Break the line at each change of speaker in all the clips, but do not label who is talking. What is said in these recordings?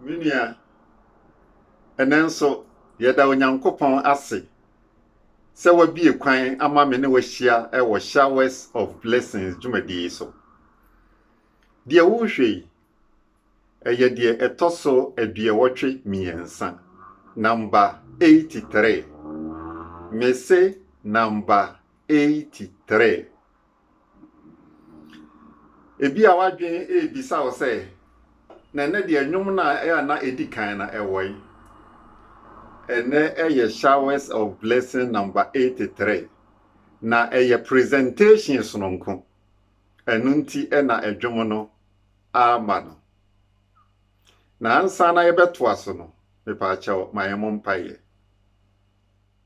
Me nua, ɛnnɛ nso yɛda Onyankopɔn ase sɛ wabie kwan ama me ne wahyia wɔ Showers of Blessings dwumadi yi so. Deɛ worehwɛ yi, ɛyɛ deɛ ɛtɔ so aduɔwɔtwe mmiɛnsa, namba 83. Mese namba 83. Ebia w'adwene rebisa wo sɛ, na ɛnɛ deɛ nnwom no a na ɛdi kan na ɛwɔ yi. Ɛnɛ ɛyɛ Showers of Blessing number 83. Na ɛyɛ presentation sononko. Ɛno nti na ɛdwom no ama no. Na ansa na yɛbɛtoa so no, mepaakyɛw ma yɛn mo mpaeɛ.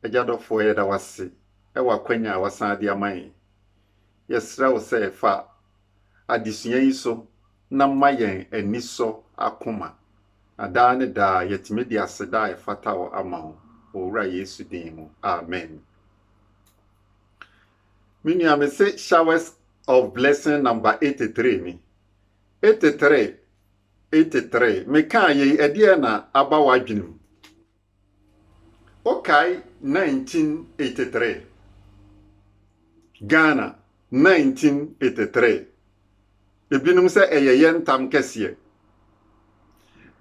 Agya dɔfoɔ yɛda wo ase wɔ akwanya a wasan de ama yɛn. Yɛsrɛ wo sɛ fa adesua yi so na ma yɛn ani sɔ akoma, na daa ne daa yɛtumi de aseda a ɛfata wo ama wo wɔ Owura Yesu din mu. Amen. Me nua mese showers of blessing number 83 ni. 83, 83, mekaa yei ɛdeɛ na aba w'adwenem? Wokae 1983? Ghana, 1983. Ebinom sɛ ɛyɛ yɛn ntam kɛseɛ.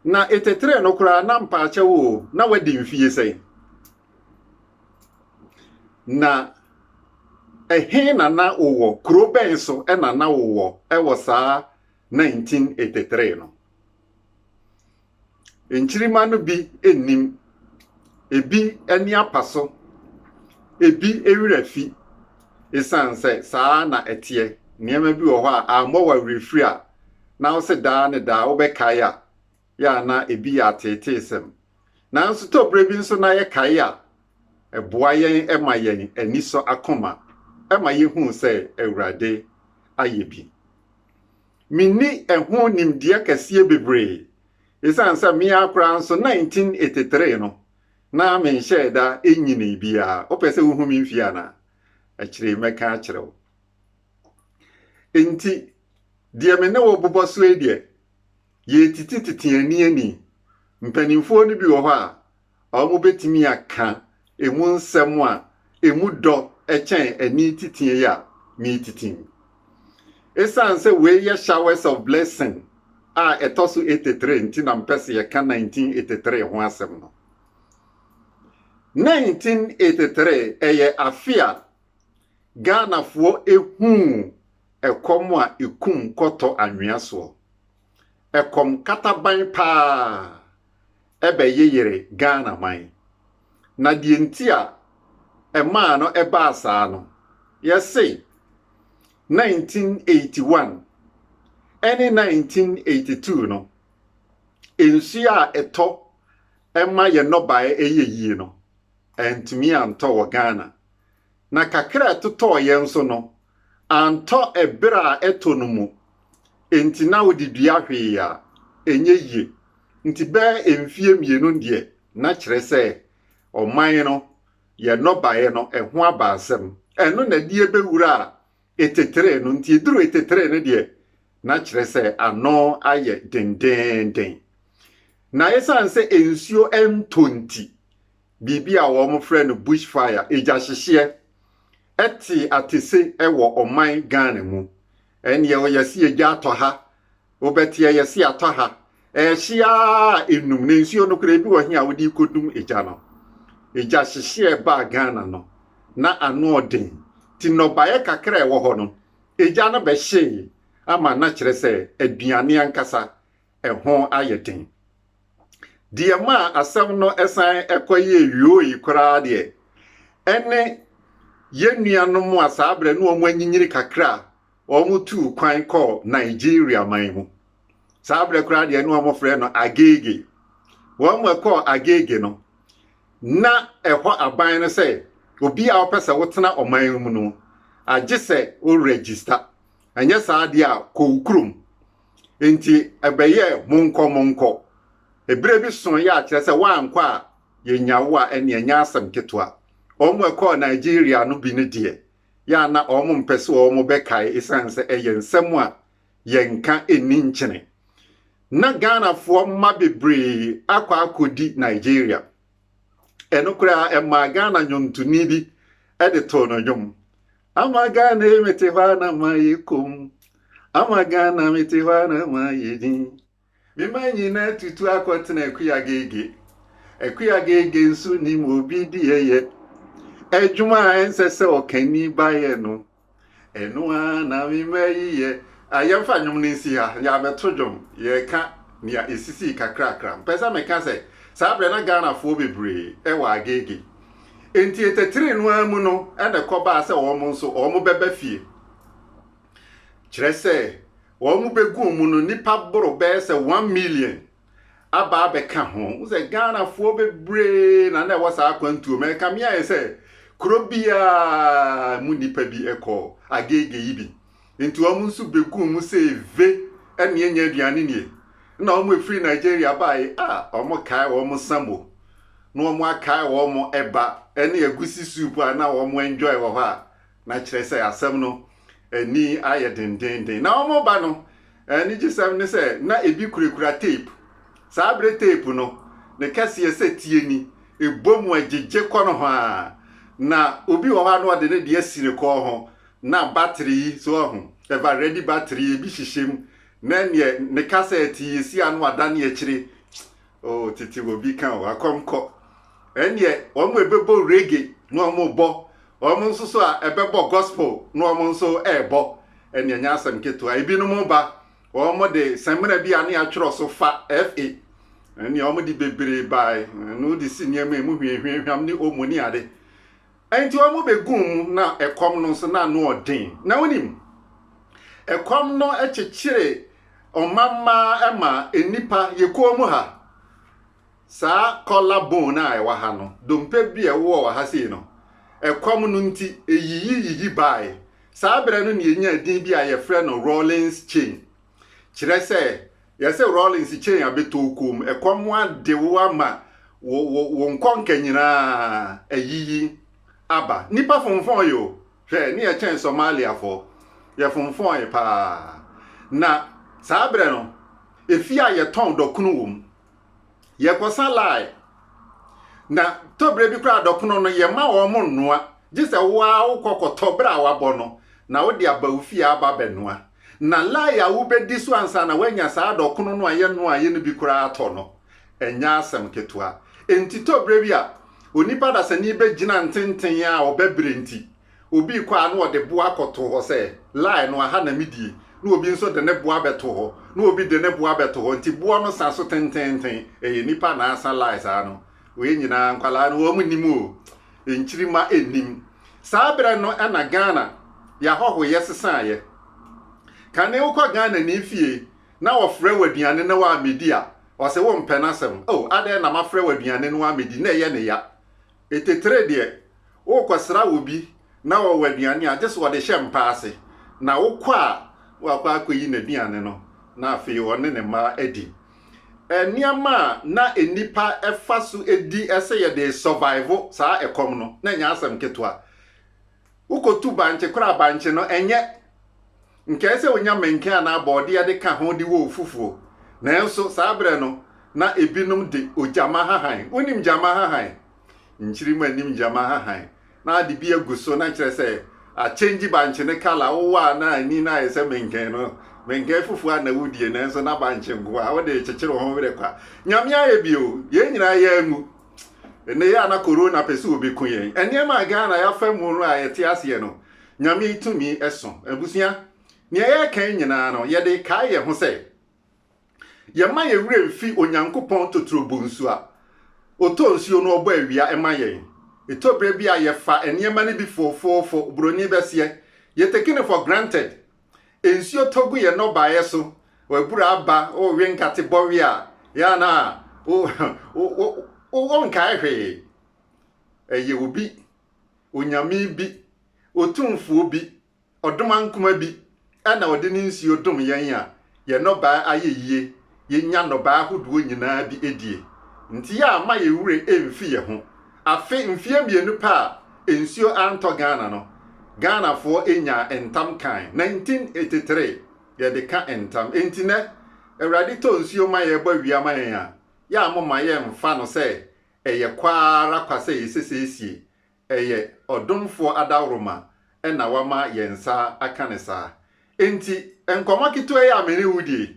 Na 83 no koraa na mpaakyɛw o, na wadi mfie sɛn? Na ɛhe na na wowɔ? Kuro bɛn so na na wowɔ wɔ saa 1983 no? Nkyirimma no bi nnim. Ebi ani apa so. Ebi werɛ afi. Esiane sɛ saa ara na ɛteɛ, nneɛma bi wɔ hɔ a, ammɔ wo awerɛfiri a, na wo se daa ne daa wobɛkae a, yɛ a na ebi yɛ ateeteesɛm. Nanso tɔberɛ bi nso na yɛkae a, ɛboa yɛn ma yɛn ani sɔ akoma ma yehu sɛ Awurade ayɛ bi. Menni ɛho nimdeɛ kɛseɛ bebree. Ɛsiane sɛ me ara koraa nso 1983 no, na menhyɛɛ da nnyinii biara. Wopɛ sɛ wohu me mfeɛ anaa? Akyire yi mɛka akyerɛ wo. Enti, deɛ me ne wo bobɔ so yi deɛ, yɛretete tete ani ani. Mpanimfoɔ no bi wɔ hɔ a, a wobetumi aka emu nsɛm a emu dɔ kyɛn ani titinn yi a meretitinn. Esiane sɛ wei yɛ Showers of Blessing a ɛtɔ so etetre nti na mepɛ sɛ yɛka 1983 ho asɛm no. 1983 yɛ afe a Ghanafoɔ huu ɛkɔm a ekum kɔtɔ anwea soɔ. Ɛkɔm kataban paa. bɛyeyere Ghana man. Na deɛ nti a ɛmaa no baa saa no, yɛse 1981 ne 1982 no, nsuo a ɛtɔ ma yɛn nnɔbaeɛ yɛ yie no, antumi antɔ wɔ Ghana. na kakra a ɛtotɔɔ yɛn nso no, antɔ bere a ɛtɔ no mu. Enti na wode dua hwee a, ɛnyɛ yie. Nti bɛyɛ mfeɛ mmienu deɛ, na kyerɛ sɛ ɔman no, yɛn nnɔbaeɛ no, ɛho aba asɛm. Ɛno na ɛde ɛbɛwura a etetere no. Nti ɛduru etetere no deɛ, na kyerɛ sɛ ano ayɛ dendeenden. Na ɛsiane sɛ nsuo ntɔ nti, biribi a wɔfrɛ no bush fire, egyahyehyeɛ, te atese wɔ ɔman Ghana mu. Ɛnneɛ wɔyɛ se egya atɔ ha, wobɛte a yɛse atɔ ha. Ɛhye ara a ɛnum, na nsuo no koraa ebi wɔ he a wode kɔdum egya no. Egyahyehyeɛ baa Ghana no, na ano ɔden, nti nnɔbaeɛ kakra a ɛwɔ hɔ no, egya no bɛhyee ama na kyerɛ sɛ aduane ankasa ɛho ayɛ den. Deɛ maa asɛm no san kɔyɛɛ yooe koraa deɛ, ɛne yɛn nuanom a saa berɛ no wɔanyinyini kakra a wɔtuu kwan kɔɔ Nigeria man mu. Saa berɛ koraa deɛ ne wɔfrɛ no Agege. Wɔn a kɔɔ Agege no, na ɛhɔ aban no sɛ obi a wopɛ sɛ wotena ɔman mu no, agye sɛ wo register. Ɛnyɛ saa deɛ a, kɔ wo kurom. Enti ɛbɛyɛɛ monkɔ monkɔ. Bere bi soe a kyerɛ sɛ woankɔ a yennya wo a, ɛnneɛ ɛnyɛ asɛm ketewa. Wɔn a ɛkɔɔ Nigeria no bi no deɛ, yɛ a na wɔmpɛ sɛ wɔbɛkae esiane sɛ ɛyɛ nsɛm a yɛnka nni nkyene. Ná Ghanafoɔ mma bebree akɔ akɔdi Nigeria. Ɛno koraa, ɛmaa Ghana nnwontoni bi de too no nnwom. Ama Ghana yi mete hɔ a na mayɛ komm Ama Ghana mete hɔ a na mayɛ dinn Me mma nyinaa tutu akɔtena Akua Agege Akua Agege nso nim obi deɛ yɛ Adwuma a ɛnsɛ sɛ ɔkani ba yɛ no Ɛno ara na me mma yi yɛ a Yɛmfa nnwom no nsi ha Yɛabɛto dwom Yɛreka nea ɛsisii kakrakra Mepɛ sɛ meka sɛ saa berɛ na Ghanafoɔ bebree wɔ Agege Enti ɛtɛtree no ara mu no na ɛkɔbaa sɛ wɔn nso wɔbɛba fie. Kyerɛ sɛ, wɔbɛgu wɔn mu no, nnipa boro bɛyɛ sɛ one million aba abɛka ho. Wohu sɛ Ghanafoɔ bebree na na ɛwɔ saa akwantuo mu. Ɛkame ayɛ sɛ kuro biara mu nnipa bi kɔ Agege yi bi. Nti wɔn nso beguu mu sɛ eve ɛnneɛ nyɛ aduane nie. Nna wɔn a efiri Nigeria baeɛ a wɔkae wɔn samo, na wɔn akae wɔn ɛba ɛne agusi soup a na wɔn enjoy wɔ hɔ a, na kyerɛ sɛ asɛm no ani ayɛ dendeenden. Na wɔn ba no, anigyesɛm ne sɛ na ebi kurakura tape. Saa bere tape no, ne kɛseɛ sɛ tie ni, ebɔ mu ɛgyegye kɔ nohoaa. Na obi wɔ hɔ a na ɔde ne deɛ asi ne kɔn ho, Na battery yi so ahu, ever ready battery ebi hyehyɛ mu, na neɛ ne kasa ɛte yɛ si ano adane akyire, oh tete wɔ bi ka o, akɔm kɔ, ɛneɛ wɔn ɛbɛbɔ reggae na wɔn rebɔ, wɔn nso so a ɛbɛbɔ gospel na wɔn nso ɛrebɔ, ɛneɛ nyɛ asɛm ketewa, ebinom ba, wɔn de samina bi a ne atwerɛ so fa, FA, ɛneɛ wɔn de bebree bae, na wode si nneɛma mu hwiahwiahwiam ne omo ne ade, Enti wɔbɛguu mu, na ɛkɔm no nso na ano yɛ den. Na wonim, ɛkɔm no kyekyere ɔmammaa ma nnipa, yɛ kuo mu ha, saa kɔla bone a ɛwɔ ha no, dompe bi a ɛwowɔ wɔ ha sei no, ɛkɔm no nti, ɛyiyiyiyi baae. Saa berɛ no na yɛnyaa din bi a yɛfrɛ no Rawlings Chain. Kyerɛ sɛ, yɛse Rawlings kyɛn abɛtɔw koom, ɛkɔm ho ade wo ama wo wo wo nkɔnka nyinaa ayiyi aba. Nnipa fonfɔn yɛ o, hwɛ ne yɛkyɛn Somaliafoɔ, yɛfonfɔn paa. Na saa berɛ no, efie a yɛtɔn dɔkono wom, yɛkɔsa line na tɔberɛ bi koraa dɔkono no yɛma wɔn mo nnoa gye sɛ wo ara wokɔ kɔtɔ berɛ a wabɔ no na wode aba wo fie aba bɛnoa na line a wobɛdi so ansa na woanya saa dɔkono no a yɛnoa yɛ no bi koraa atɔ no ɛnyɛ asɛm ketewa enti tɔberɛ bi a onipa dasani bɛgyina ntenten a ɔbɛbrɛ nti Obi rekɔ a na ɔde bo akɔto hɔ sɛ, Line no, aha na midie. Na obi nso de ne bo abɛto hɔ. Na obi de ne bo abɛto hɔ. Nti boɔ no sa so tenteenten. Ɛyɛ nnipa na asa line saa no. Wei nyinaa nkwadaa no wɔn nnim o. Nkyirima nnim. Saa berɛ no na Ghana yɛahɔhoyɛ sesaeɛ. Kane wokɔ Ghanani fie na ɔfrɛ wo aduane na woammɛdi a, ɔse wompɛ n'asɛm. O, adɛn na mafrɛ wo aduane na woammɛdi? Nnɛ ɛyɛ ne ya. Titire deɛ, worekɔsra obi na ɔwɔ aduane a, gye sɛ ɔde hyɛ mpa ase, na wokɔ a, woakɔ akɔyi n'aduane no, na afei ɔne ne mma adi. Nneɛma a na nnipa fa so di sɛ yɛde survive saa ɛkɔm no, na ɛnyɛ asɛm ketewa. Wokotu bankye koraa a, bankye no, ɛnyɛ nkae sɛ wonya menken anaa bɔɔdeɛ de ka ho de wɔ ofufuo. Nanso saa berɛ no, na ebinom de ogyama hahan. Wonim gyama hahan? Nkyirimma nnim gyama hahan. Na ade bi agu so, na kyerɛ sɛ akyɛngyi bankye no kala. Wowɔ a na ani no ayɛ sɛ menken no. Menken fufuo a na wodie, nanso na bankye nko ara. Wode rekyekyere wo ho werɛ kwa. Nyame ayɛ bi o. Yɛn nyinaa yɛn anwu. Nnɛ yi a na Corona pɛ sɛ obeku yɛn, nneɛma a Ghana yɛafa mu no a yɛte aseɛ no, Nyame tumi so. Abusua, nea yɛreka yi nyinaa no, yɛde rekae yɛn ho sɛ, yɛmma yɛn werɛ mfi Onyankopɔn totoro bonsu a Ɔtɔ nsuo na Ɔbɔ awia ma yɛn. Ɛtɔ berɛ bi a yɛfa nneɛma no bi foofoofo, Buroni bɛseɛ, yɛ taking it for granted, nsuo tɔ gu yɛn nnɔbaeɛ so, w'abura aba, wowe nkate bɔwe a, yɛ a na wonkae hwee. Ɛyɛ obi, onyame bi, otumfoɔ bi, ɔdomankoma bi na ɔde ne nsuo dom yɛn a, yɛn nnɔbae ayɛ yie, yɛnya nnɔbae ahodoɔ nyinaa bi die nti a mma yɛn werɛ ɛmfi yɛn ho. Afe mfeɛ mmienu pɛ a nsuo antɔ Ghana no, Ghanafoɔ nyaa ntam kan, 1983 yɛde ka ntam. Ɛnti nnɛ Awurade tɔ nsuo ma yɛn bɔ awia ma yɛn a, yɛ a momma yɛmfa no sɛ ɛyɛ kwa ara kwa sɛ yɛsesiesie Ɛyɛ ɔdomfoɔ adaworoma na wama yɛn nsa aka no saa. Enti, nkɔmmɔ ketewa yi a me ne wo die yi,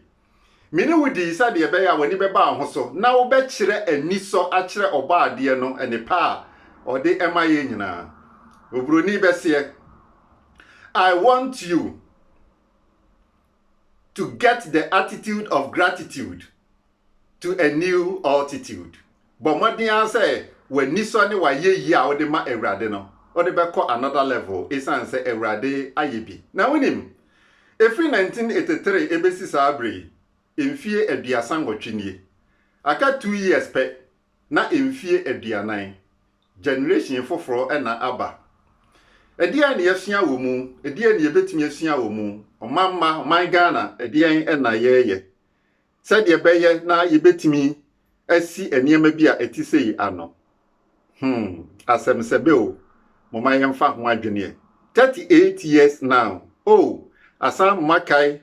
me ne wo dii sɛdeɛ ɛbɛyɛ a w'ani bɛba wo ho so na wobɛkyerɛ anisɔ akyerɛ Ɔbɔadeɛ no nnepa a ɔde ma yɛn nyinaa. Oburoni bɛseɛ, I want you to get the attitude of gratitude. to a new altitude. Bɔ mmɔden ara sɛ w'anisɔ ne w'ayɛyie a wode ma Awurade no, wode bɛkɔ another level esiane sɛ Awurade ayɛ bi. Na wonim, ɛfiri 1983 ɛbɛsi saa berɛ yi, mfie aduasa nnwɔtwe nie. Aka two years pɛ na mfie aduanan, generation foforɔ na aba. Ɛdeɛn na yɛasua wɔ mu? Ɛdeɛn na yɛbɛtumi asua wɔ mu? Ɔman mma, ɔman Ghana, ɛdeɛn na yɛreyɛ? Sɛdeɛ ɛbɛyɛ na yɛbɛtumi asi nneɛma bi a ɛte sei ano. Hmm, asɛmsɛbɛ o, momma yɛmfa ho adweneɛ. Thirty eight years now, oh, asan mma kae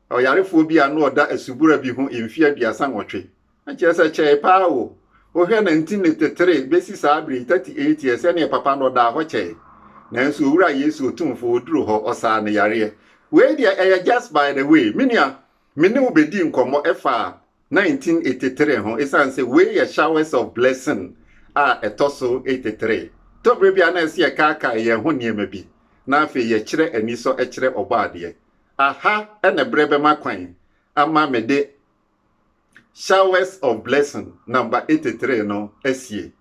ɔyarefoɔ bi a na ɔda asubura bi ho mfeɛ aduasa nwɔtwe. Ɛnkyerɛ sɛ ɛkyɛe paa o. Wohwɛ na nti ne tetere bɛsi saa berɛ yi, thirty eight years, ɛneɛ papa no ɔdaa hɔ kyɛe. Nanso Owura Yesu Otumfoɔ, ɔduru hɔ, ɔsaa ne yareɛ. Wei deɛ ɛyɛ just by the way. Me nua, Me ne wo bedii nkɔmmɔ ɛfaa 1983 ho esiane sɛ wei yɛ Showers of Blessing a ɛtɔ so 83. Tɔbere bi a na ɛsɛ yɛkaakae yɛn ho nneɛma bi na afei yɛkyerɛ anisɔ kyerɛ Ɔbɔadeɛ. Aha na berɛ bɛma kwan ama me de Showers of Blessing number 83 no asie.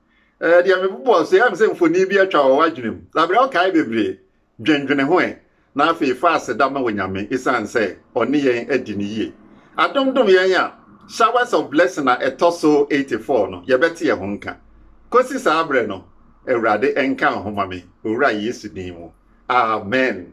Ɛɛ deɛ mebobɔɔ so yi, ayɛ me sɛ mfoni bi atwa wɔ w'adwenem. Labere, wokae bebree. Dwendwene ho ɛ, na afei fa aseda ma Onyame esiane sɛ Ɔne yɛn adi no yie, adomdom yɛn a. Showers of Blessing a ɛtɔ so 84 no, yɛbɛte ɛho nka. Kosi saa berɛ no, Awurade nka wo ho ma me, Owura Yesu din mu, amen.